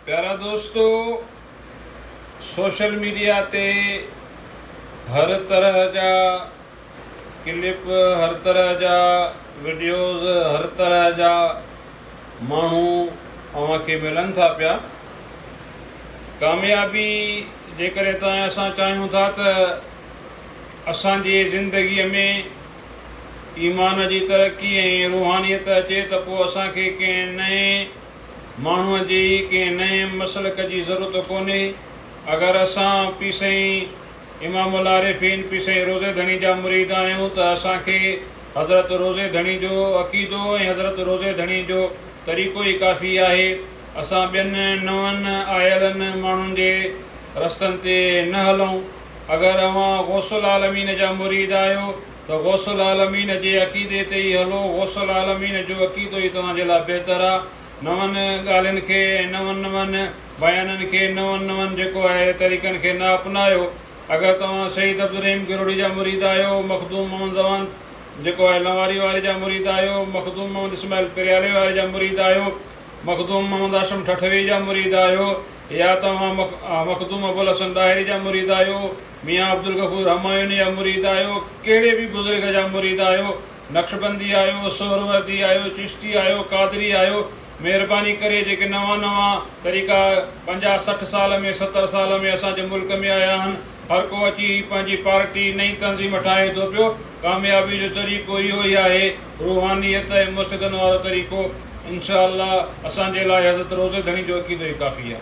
پيارا دوستو social media تي هر طرح جا ڪلپ هر طرح جا وڊيوز هر طرح جا ماڻهو اوهان کي ملن ٿا پيا ڪاميابي جيڪڏهن توهان اسان چاهيون ٿا ته اسان جي زندگي ۾ ايمان جي ترقي ۽ روحانيت اچي ته پوء اسان کي ڪنهن نئين ماڻهوء جي ڪنهن نئين مسلڪ جي ضرورت ڪونهي. اگر اسان پير سائين امام العارفين پير سائين روضي ڌڻي جا مريد آهيون ته اسان کي حضرت روضي ڌڻي جو عقيدو ۽ حضرت روضي ڌڻي جو طريقو ئي ڪافي آهي. اسان ٻين نون آيلن ماڻهن جي رستن تي نه هلون. اگر اوهان غوث العالمين جا مريد آهيو ته غوث العالمين جي عقيدي تي ئي هلو، غوث العالمين جو عقيدو ئي توهان جي لاء بهتر آ، نون ڳالهين کي ۽ نون نون بيانن کي، نون نون جيڪو آهي طريقن کي نه اپنايو، اگر توهان سيد عبدالرحيم ڪروڙي جا مريد آهيو، مخدوم محمد زمان جيڪو آهي لنواري واري جا مريد آهيو، مخدوم محمد اسماعيل پريالي واري جا مريد آهيو، مخدوم محمد هاشم ٺٺوي جا مريد آهيو، يا توهان مخدوم ابوالحسن ڏاهري جا مريد آهيو، ميان عبدالغفور همايوني جا مريد آهيو، ڪهڙي به بزرگ جا مريد آهيو، نقشبندي آهيو، سهروردي آهيو، چشتي آهيو، قادري آهيو، مهرباني ڪري جيڪي نوان نوان طريقا پنجاهه سٺ سال ۾ ستر سال ۾ اسان جي ملڪ ۾ آيا آهن، هر ڪو اچي پنهنجي پارٽي نئين تنظيم ٺاهي ٿو پيو، ڪاميابي جو طريقو اهو ئي آهي. روحانيت ۽ مرشدن وارو طريقو انشاء الله اسان جي لاء حضرت روضي ڌڻي جو عقيدو ئي ڪافي آهي.